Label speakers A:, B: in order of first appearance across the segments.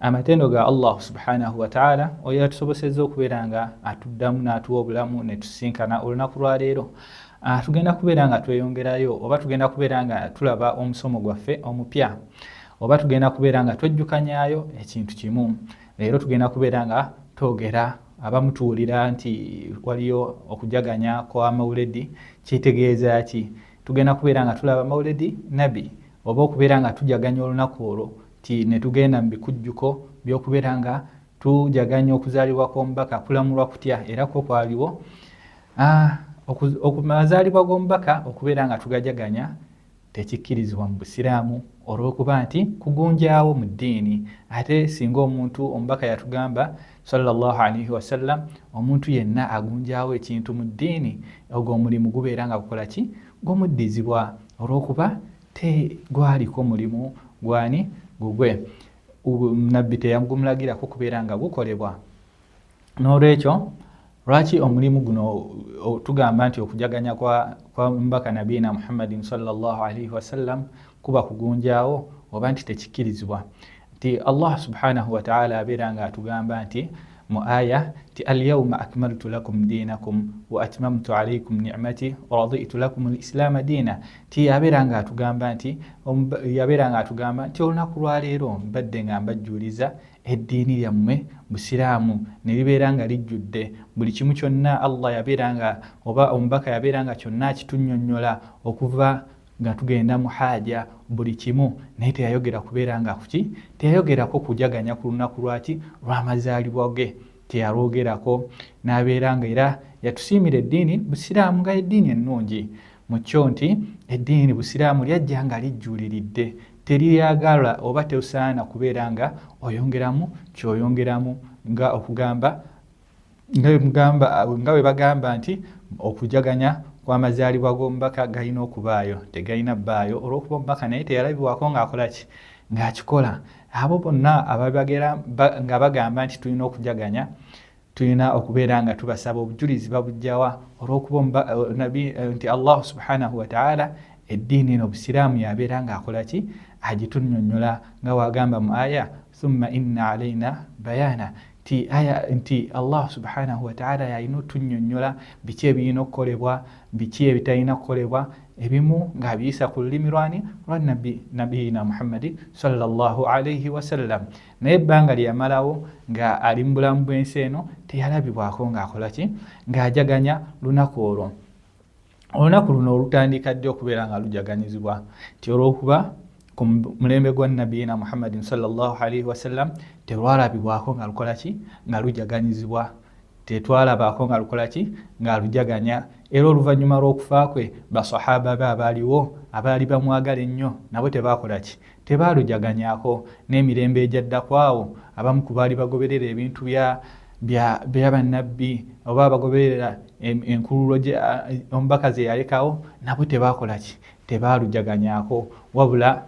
A: amatendo ga allah subhanahu wataala oyo yatusoboseza okubeera nga atuddamu n'atuwa obulamu netusinkana olunaku lwaleero ah, tugenda kubeera nga tweyongerayo oba tugenda kubeera nga tulaba omusomo gwaffe omupya oba tugenda kubeera nga twejjukanyayo ekintu kimu leero tugenda kubeera nga twogera abamutuwulira nti waliyo okujaganya kwa mauledi kitegeeza ki tugenda kubeera nga tulaba mauledi nabi oba okubeera nga tujaganya olunaku olwo ti netugenda mu bikujjuko by'okubeera nga tujaganya okuzaalibwa kw'omubaka kulamulwa kutya era kwo kwaliwo okumazaalibwa g'omubaka okubeera nga tugajaganya tekikkirizibwa mu busiraamu olw'okuba nti kugunjaawo mu ddiini ate singa omuntu omubaka yatugamba salllah alaihi wasallam omuntu yenna agunjaawo ekintu mu ddiini ogwo omulimu gubeera nga gukola ki gumuddizibwa olw'okuba te gwaliko mulimu gwani gugwe nabbi teyagumulagirako kubeera nga gukolebwa n'olwekyo lwaki omulimu guno tugamba nti okujaganya kwa, kwa mbaka nabiina muhammadin salllah alaihi wasallam kuba kugunjaawo oba nti tekikkirizibwa nti allah subhanahu wataala abeera nga atugamba nti mu aya nti alyauma akmaltu lakum dinakum wa atmamtu alaikum nimati waraditu lakum lislaama diina nti yabeera nga atugamba nti yabeera nga atugamba nti olunaku lwaleero mbadde nga mbajjuliza eddiini lyammwe busiraamu ne libeera nga lijjudde buli kimu kyonna allah yabeera nga oba omubaka yabeera nga kyonna akitunnyonnyola okuva nga tugenda mu haaja buli kimu naye teyayogera kubeera nga kuki teyayogerako kujaganya ku lunaku lwaki lwamazaalibwa ge teyalwogerako n'abeera nga era yatusiimira eddiini busiraamu nga eddiini ennungi mu kyo nti eddiini busiraamu lyajja nga lijjuuliridde teriyagala oba tesaana kubeera nga oyongeramu kyoyongeramu nga okugamba nga bwe bagamba nti okujaganya kw'amazaalibwa g'omubaka galina okubaayo tegalina bbaayo olw'okuba omubaka naye teyalabibwako ng'akola ki ng'akikola abo bonna ababagera nga bagamba nti tulina okujaganya tulina okubeera nga tubasaba obujulizi babujjawa olw'okuba nabi nti allahu subhanahu wataala eddiini eno obusiraamu yabeera ng'akola ki agitunnyonnyola nga waagamba mu aya thumma inna alaina bayana nti aya nti allah subhanahu wataala yalina otunyonyola biki ebirina okukolebwa biki ebitalina kukolebwa ebimu ng'abiyisa ku lulimi lwani lwa nabbi nabiyina muhammadi salllahu alaihi wasallam naye ebbanga lye yamalawo nga ali mu bulamu bw'ensi eno teyalabibwako ng'akola ki ng'ajaganya lunaku olwo olunaku luno olutandika ddi okubeera nga lujaganyizibwa nti olwokuba ku mulembe gwa nabiyina muhammadin salllahalaihi wasallam terwalabibwako nga lukola ki nga lujaganyizibwa tetwalabaako nga lukola ki nga lujaganya era oluvannyuma lw'okufa kwe basahaba be abaaliwo abaali bamwagala ennyo nabo tebaakola ki Tebaalujaganyako. N'emirembe egyadda ku awo, abamu ku baali bagoberera ebintu bya, bya, bya bannabbi, oba abagoberera enkululo gye, omubaka ze yalekawo, nabo tebaakola ki? Tebaalujaganyako. Wabula,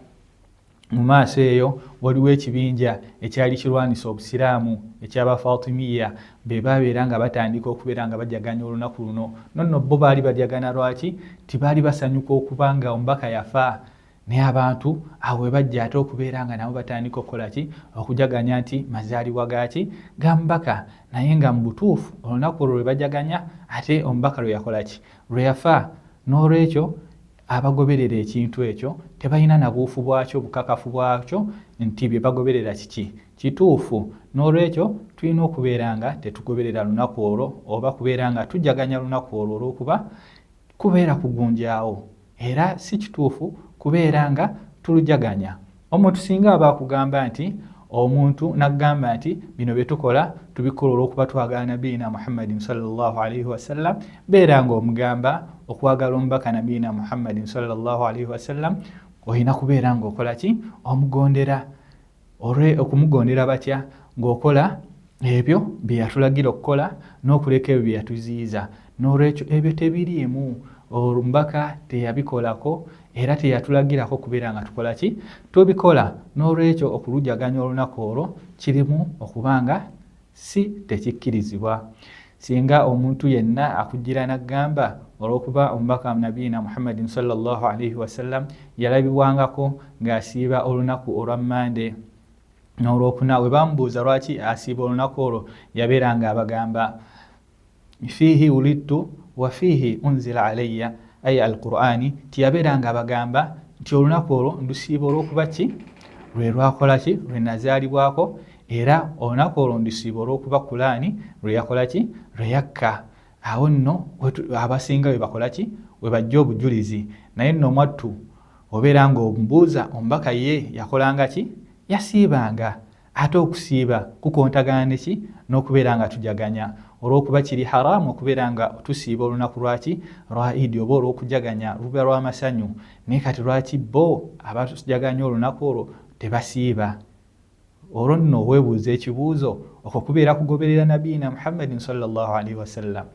A: mu maaso eyo, waliwo ekibinja ekyali kirwanisa Obusiraamu, eky'Abafatimiya. Be baabeera nga batandika okubeera nga bajaganya olunaku luno. No nno bo baali bajagana. Lwaki? Nti baali basanyuka okuba nga omubaka yafa. naye abantu awo we bajja ate okubeera nga nabo batandika okukola ki okujaganya nti mazaalibwa gaki ga mubaka naye nga mu butuufu olunaku olwo lwe bajaganya ate omubaka lwe yakola ki lwe yafa n'olwekyo abagoberera ekintu ekyo tebalina na buufu bwakyo bukakafu bwakyo nti bye bagoberera kiki kituufu n'olwekyo tulina okubeera nga tetugoberera lunaku olwo oba kubeera nga tujaganya lunaku olwo olw'okuba kubeera kugunjaawo era si kituufu kubeera nga tulujaganya omuntu singa aba akugamba nti omuntu nagamba nti bino byetukola tubikola olwokuba twagala nabiina muhammadin salllahalaihi wasallam beera nga omugamba okwagala omubaka nabiina muhammadin salllahalaihi wasallam olina kubeera nga okola ki omugondera olwe okumugondera batya ng'okola ebyo bye yatulagira okukola n'okuleka ebyo bye yatuziyiza n'olwekyo ebyo tebiriimu omubaka teyabikolako era teyatulagirako okubeera nga tukola ki tubikola n'olwekyo okulujaganya olunaku olwo kirimu okuba nga si tekikkirizibwa Singa omuntu yenna akujjira n'aggamba olw'okuba omubaka wa nabiina Muhammadin sallallahu alaihi wasallam yalabibwangako ng'asiiba olunaku olwa Mmande n'olwokuna we bamubuuza lwaki asiiba olunaku olwo yabeeranga abagamba fiihi wulidtu wa fiihi unzila alayya ayi al qur'ani nti yabeeranga abagamba nti olunaku olwo ndusiiba olw'okuba ki lwe lwakola ki lwe nazaalibwako era olunaku olwo ndisiiba olw'okuba kulaani lwe yakola ki lwe yakka awo nno abasinga we bakola ki we bajja obujulizi naye nno omwattu obeera ng'omubuuza omubaka ye yakolanga ki yasiibanga ate okusiiba kukontagana neki n'okubeera nga tujaganya olw'okuba kiri haraamu okubeera nga tusiiba olunaku lwaki lwa idi oba olw'okujaganya luba lwa masanyu naye kati lwaki bo abatujaganya olunaku olwo tebasiiba olwo nno owebuuza ekibuuzo okwo kubeera kugoberera nabiina muhammadin salllahalaihi wasallam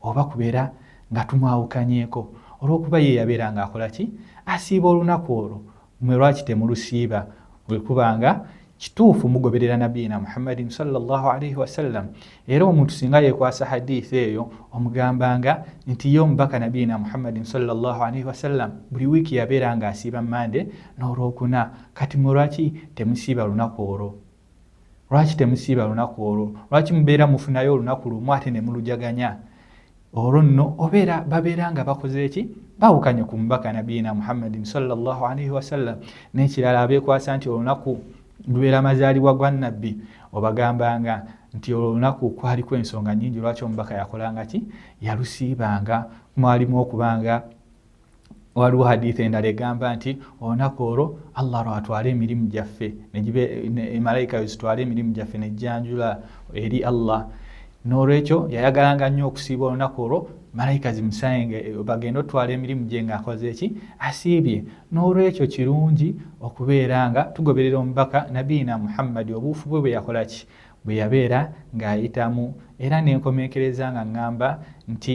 A: oba kubeera nga tumwawukanyeeko olwokuba ye yabeera nga akola ki asiiba olunaku olwo mwe lwaki temulusiiba bwekuba nga kituufu mugoberera nabiina muhammadin salllahalaihi wasallam era omuntu singa yekwasa hadith eyo omugambanga nti ye omubaka nabiina muhammadin salllahalaihi wasallam buli wiiki yabeera nga asiiba mande n'olwokuna kati mwe lwaki temusiiba lunaku olwo lwaki temusiiba lunaku olwo lwaki mubeera mufunayo olunaku lumu ate ne mulujaganya olwo nno obeera babeera nga bakoze eki bawukanye ku mubaka nabiina muhammadin salllahalaihi wasallam n'ekirala abeekwasa nti olunaku lubeera mazaalibwa gwa nabbi obagambanga nti olwo olunaku kwaliko ensonga nyingi lwaki omubaka yakolanga ki yalusiibanga mwalimu okubanga waliwo haditha endala egamba nti olunaku olwo allah lwatwala emirimu gyaffe malaika wezitwala emirimu gyaffe nejjanjula eri allah n'olwekyo yayagalanga nnyo okusiiba olunaku olwo malayika zimusayenge eh, bagenda otwala emirimu gye ngaakoze eki asiibye n'olwekyo kirungi okubeera nga tugoberera omubaka nabiina muhammadi obuufu bwe bwe yakola ki bwe yabeera ng'ayitamu era ne nkomekereza nga ŋŋamba nti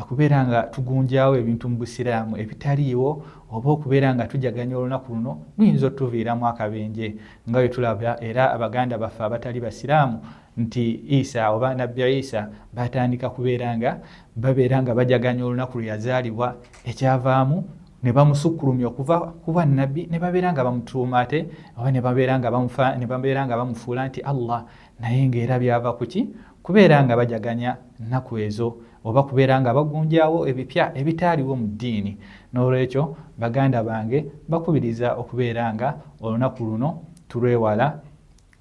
A: okubeera nga tugunjaawo ebintu mu busiraamu ebitaliiwo oba okubeera nga tujaganya olunaku luno luyinza otutuviiramu akabenje nga bwe tulaba era abaganda baffe abatali basiraamu nti isa oba nabbi isa baatandika kubeera nga babeera nga bajaganya olunaku lwe yazaalibwa ekyavaamu ne bamusukkulumya okuva ku bannabbi ne babeera nga bamutuuma ate oba ne babeera nga bamufa ne babeera nga bamufuula nti allah naye ng'era byava ku ki kubeera nga bajaganya nnaku ezo oba kubeera nga bagunjaawo ebipya ebitaaliwo mu ddiini n'olwekyo baganda bange bakubiriza okubeera nga olunaku luno tulwewala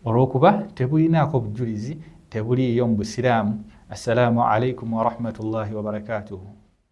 A: olw'okuba tebulinaako bujulizi tebuliiyo mu busiraamu assalaamu alaikum warahmatullahi wabarakatuhu